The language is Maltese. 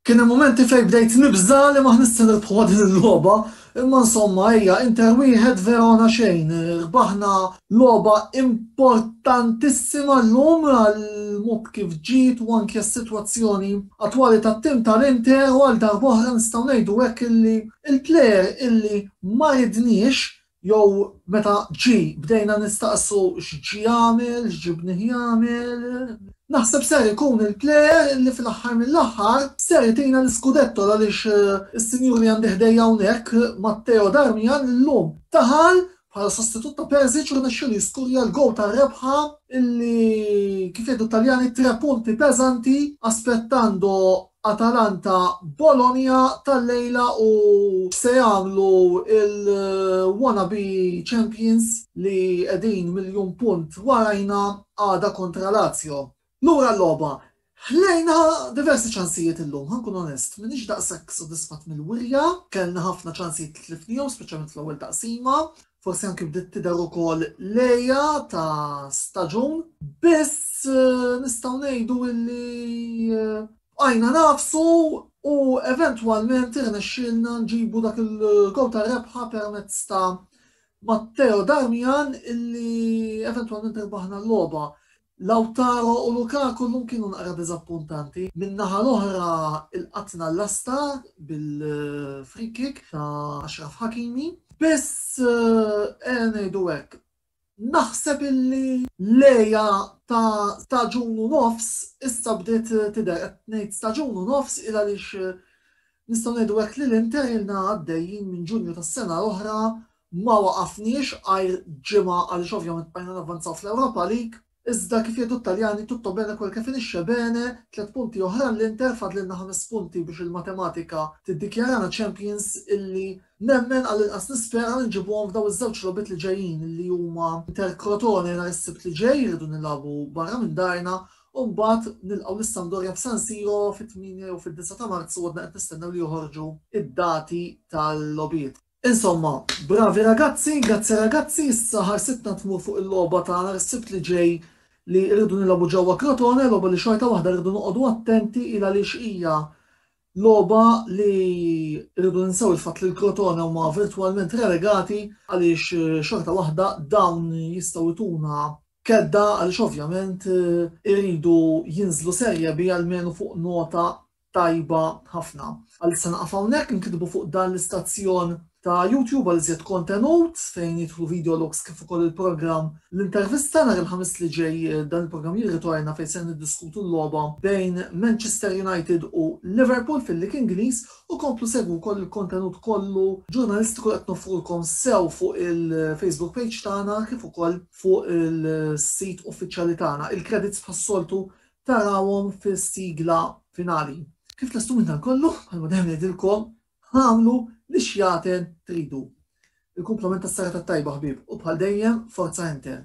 Kien il-momenti fej bdejt nibża li ma ħnissin nirbħuha din il-logħba, imma insomma hija Inter wieħed Verona xejn. Rbaħna logħba importantissima llum għal mod kif ġiet u anke s-sitwazzjoni attwali tat-tim tal-Inter u għal darb'oħra nistgħu ngħidu hekk illi il-plejer illi ma ridniex Jew meta ġie bdejna nistaqsu x'ġie jagħmel, x'ġibnih jagħmel. Naħseb ser ikun il-plejer li fl-aħħar mill-aħħar ser itina l-iskudetto għaliex is-sinjur li għandi ħdejja hawnhekk, Matteo Darmian, illum daħal bħala sostitut ta' Pezic u rnexxielu jiskurja l-gowl tar-rebħa illi kif jgħidu t-Taljani tre punti pesanti aspettando Atalanta Bologna tal-lejla u se jagħmlu l-wanna be champions li qegħdin miljun punt warajna għada kontra Lazio. Lura l-logħba. Ħlejna diversi ċansijiet illum, ħa nkun onest. M'iniex daqshekk sodisfatt mill-wirja, kellna ħafna ċansijiet li tlifnihom, speċjalment fl-ewwel taqsima. Forsi anki bdiet tidher ukoll lejja ta' staġun. Biss nistgħu ngħidu illi bqajna nafsu u eventwalment irnexxielna nġibu dak il-gowl tar-rebħa permezz ta' Matteo Darmian illi eventwalment irbaħna l-logħba. Lautaro u Lukaku llum kienu naqra diżappuntanti. Min-naħa l-oħra lqatna l-lasta bil-free kick ta' Ashraf Hakimi. Biss, ejja ngħidu hekk, naħseb illi l-għeja ta' staġun u nofs issa bdiet tidher. Qed ngħid staġun u nofs il għaliex nistgħu ngħidu hekk li l-Inter ilna għaddejjin minn Ġunju tas-sena l-oħra Ma waqafniex għajr ġimgħa għaliex ovvjament bqajna navvanzaw fl-Europa League, iżda kif jgħidu t-Taljani tutto bene quel che finisce bene, tliet punti oħra għall-Inter fadlilna ħames punti biex il-matematika tiddikjarana champions illi nemmen għall-inqas nispera li nġibuhom f'daw iż-żewġ logħbiet li ġejjin illi huma Inter Crotone nhar is-Sibt li ġej irridu nilagħbu barra minn darna u mbagħad nilqgħu lis-Sampdoria f'San Siro fit-tmienja jew fid-disgħa ta' Marzu għadna qed nistennew li joħorġu id-dati tal-logħbiet. Insomma, bravi ragazzi, grazzi ragazzi, issa ħarsitna tmur fuq il-logħba ta' nhar is-Sibt li ġej li rridu nilagħbu ġewwa Crotone, logħba li xorta waħda rridu noqogħdu attenti il għaliex hija logħba li rridu ninsew il-fatt li l-Crotone huma virtwalment relegati għaliex xorta waħda dawn jistgħu jtuna kedda għaliex ovvjament iridu jinżlu Serie B almenu fuq nota tajba ħafna. Għalissa naqaf hawnhekk inkitbu fuq dan l-istazzjon ta' YouTube għal iżjed kontenut fejn jidħlu videologs kif ukoll il-programm l-intervista nhar il-Ħamis li ġej dan il-programm jirritorna fejn ser niddiskutu l-logħba bejn Manchester United u Liverpool fil-Lig Ingliż u komplu segwu wkoll il-kontenut kollu ġurnalistiku li qed noffrulkom sew fuq il-Facebook page tagħna kif ukoll fuq il-sit uffiċjali tagħna. Il-kredits bħas-soltu tarawhom fil-sigla finali. Kif lestu minn dan kollu, bħalma dejjem ngħidilkom, ħamlu li xjaten tridu. Il-kumplament tas-sara tat-tajba ħbieb u bħal dejjem forza Inter.